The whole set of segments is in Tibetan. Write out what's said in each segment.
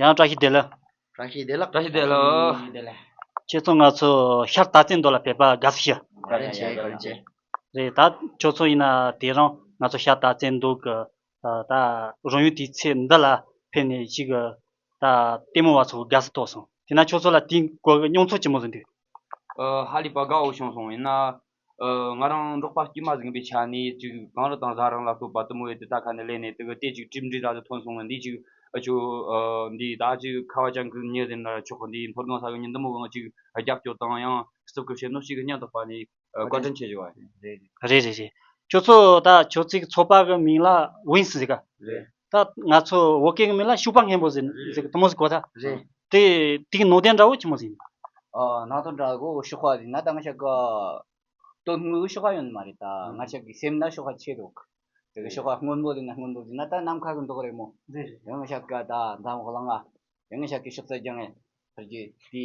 ཡང་བཀྲ་ཤིས་བདེ་ལེགས། བཀྲ་ཤིས་བདེ་ལགས། བཀྲ་ཤིས་བདེ་ལགས། ཁྱེད་ཚོ་ང་ཚོ་ཤར་རྟ་རྩེད་འདོ་ལ་ཕེབས་པ་དགའ་བསུ་ཞུ། དགའ་རེ་བྱེད་དགའ་རེ་བྱེད། རེད་ད་ཁྱོད་ཚོ་ཡིན་ན་དེ་རིང་ང་ཚོ་ཤར་རྟ་རྩེད་འདོ་གི་ད་རང་ཡུལ་དེའི་ཚེ་འདི་ལ་ཕེབས་ནས་ཅིག་གི་ད་ལྟད་མོ་བ་ཚོ་དགའ་བསུ་ཐོག་སོང་དེ་ན་ཁྱོད་ཚོ་ལ་དེའི་སྐོར་གྱི་མྱོང་ཚོར་ཅི་མོ་བཟོ་འདོད། ཧ་ལི་པ་དགའ་བོ་བྱུང་སོང་ཡིན་ན་ང་རང་འབྲོག་པ་དཀྱུས་མ་ཟིང་པའི་ཆ་ནས་ཅིག་གངས་རི་དང་བཟའ་རང་ལ་ལྟོས་པ་གཏུམ་མོའི་དུ་ད་ཁ་ནས་གླན་ནས་དུ་གི་ལྟས་ཅིག་གྲིབ་འབྲི་ར་དུ་ཐོན་སོང་ངོ་འདི་ཅིག་ཨ་ཅོ། འདི་ད་ཅིག་ཁ་བ་ཅང་གིས་ཉིན་རེ་ནར་ཆོག་གི་འདིའི་འཐོར་སྒང་ས་གི་ཉིན་དུམ་བུ་གང་ཅིག་རྒྱབ་སྐྱོར་དང་ཡང་སྲིབ་ཀི་བྱེད་ནོ་ཅིག་སྙམ་དུ་བར་ནས་བཀའ་དྲིན་ཆེ་བཞེས་པ། རེད་རེད་རེད་རེད་རེད་ཁྱོད་ཚོ་ད་ཁྱོད་ཚིག་ཚོགས་པ་གི་མིང་ལ་དབྱིན་སི་ཟིག་ག། རེད། ད་ང་ཚོ་བོད་སྐད་ཀྱི་མི་ལ་ཤུག་པ་སྔན་པོ་ཟེར་ཟེར་གི་དུ་མོ་ཟེར་གོ་ད། རེད། དེ་དེ་གི་ནང་དོན་འདྲ་བོ་ཆི་མོ་ཟེར་ཡིན། ཨ་ནང་དོན་འདྲ་བོ་ཤུག་པ་ཟེར་ན་ད་ང་ཤག་གི་དོན་དངོས་ཤུག་པ་ཡོད་ནི་མ་རེད་ད་ང་ཤག་གི་སེམས་ན་ཤུག་པ་ཆེ་འདུག་དེ་གི་ཤུག་པ་སྔོན་པོ་ཟེར་ན་སྔོན་པོ་ཟེར་ན་ད་ནམ་མཁའ་གི་མདོག་རེད་མོ། རེད་རེད། དེ་ང་ཤག་གི་ད་འཛམ་བུ་གླང་ཨ། དེ་ང་ཤག་གི་ཤུག་རྩལ་རྒྱང་ངེ། ཕར་རྒྱུ་དེ།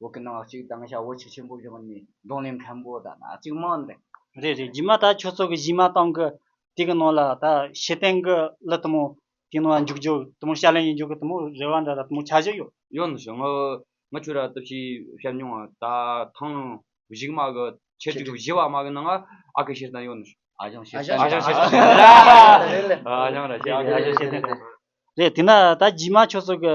འོག་གི་སྣང་བ་གཅིག་དང་བྱ་བ་ཆུ་ཆེན་པོ་བཞིན་ནི་གདོང་ལས་མཁན་པོ་དང་ན་གཅིག་མ་འདྲེ། རེད་རེད་རྗེས་མ་ད་ཁྱོད་ཚོ་གི་གཞི་མ་སྟངས་ཀི་དེ་གི་ནང་ལ་ད་ཤེས་ལྡན་གི་གླུ་དུ་མོ་དེ་ནང་ལ་འཇུག་རྒྱུ་དུ་མོ་ཤ་ལེན་ཡི་འཇུག་གི་དུ་མོ་རེ་བ་འདྲ་ད་དུ་མོ་ཆ་བཞི་ཡོད། ཡོད་ནི་བྱུང་ང་ཁྱོད་ར་ཏི་ཤི་བཤད་མྱོང་ང་ད་ཐང་བཞུགས་མ་གི་ཁྱེད་ཅིག་བཞི་བ་མ་གི་ནང་ང་ཨ་ཁི་ཤེས་ལྡན་ཡོད་ནི་བྱུང། ཨ་ཞང་ཤེས་ལྡན་རེད། ཨ་ཞང་ཤེས་ལྡན་རེད། རེད་དེ་ན་ད་རྗེས་མ་ཁྱོད་ཚོ་གི་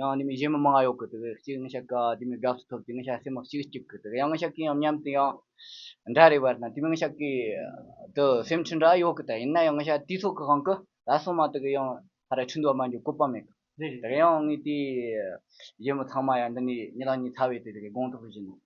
ཡང་འདི་མི་གཞན་མི་མང་ཡོད་གི་འདུག་གཅིག་ངའི་ཤ་ཀ་དེ་མི་དགའ་ས་ཐོབ་དེ་ངའི་ཤ་ཟས་མ་གཅིག་གཅིག་གི་འདུག་ཡང་ངའི་ཤ་ཀའི་ཡང་མཉམ་དུ་ཡང་འདྲ་རེད་བར་ན་དེ་མི་ངའི་ཤ་ཀའི་དུ་སེམས་ཁྲིད་འདྲ་ཡོད་གི་ད་ཡིན་ན་ཡང་ངའི་ཤ་དེའི་ཚོགས་ཀྱི་གང་གི་ད་སོང་མ་དེ་གི་ཡང་ད་རེ་ཁྲིད་འདུག་བ་མ་འཇུག་བཀོད་པ་མེད་གི་དེ་གི་ཡང་ངའི་དེའི་གཞས་མོ་ཚང་མ་ཡང་འདི་ནས་གཉིས་ལག་གཉིས་ཚ་བའི་དེ་གི་དགོངས་དག་བཞིན་ནོ།